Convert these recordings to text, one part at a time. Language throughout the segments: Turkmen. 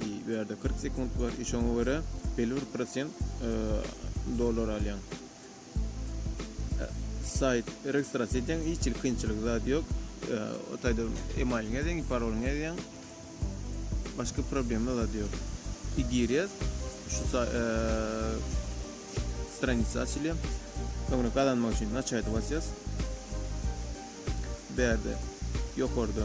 I bu ýerde kyrk sekunt bar I şoňa görä belli bir prosent dollar alýaň. Saýt registrasiýa edýäň hiç hili kynçylyk zat ýok. O taýda emailyňy ýazýaň, parolyňy ýazýaň. Başga problema zat ýok. I girýäs şu stranisa açylýar. Öňüne gazanmak üçin naçaýda basýas. Bu ýerde ýokarda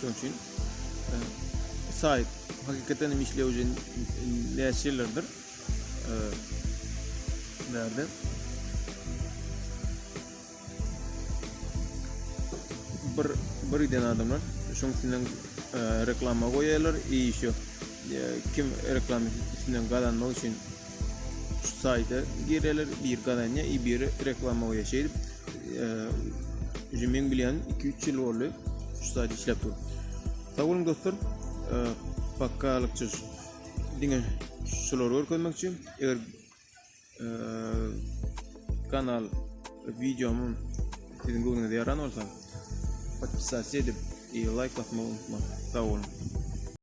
Şonuň üçin e, saýt hakykatdan hem işlew üçin näçe ýyllardyr e, nerede? Bir bir eden adamlar şoň üçin reklama goýýarlar, iş ýok. Kim reklama üçin gazanmak üçin Şu saýda gireler, bir gazanýa, i biri reklama goýýa. Şeýdip, e, men bilýän 2-3 ýyl boldy şu saýda işläp dur. Sag boluň dostlar. E, Pakkalykça diňe şulary görkezmek üçin eger e, kanal videomu sizin göwnüňize ýaran bolsa, podpisasiýa edip, e, laýk basmagy unutmaň. Sag boluň.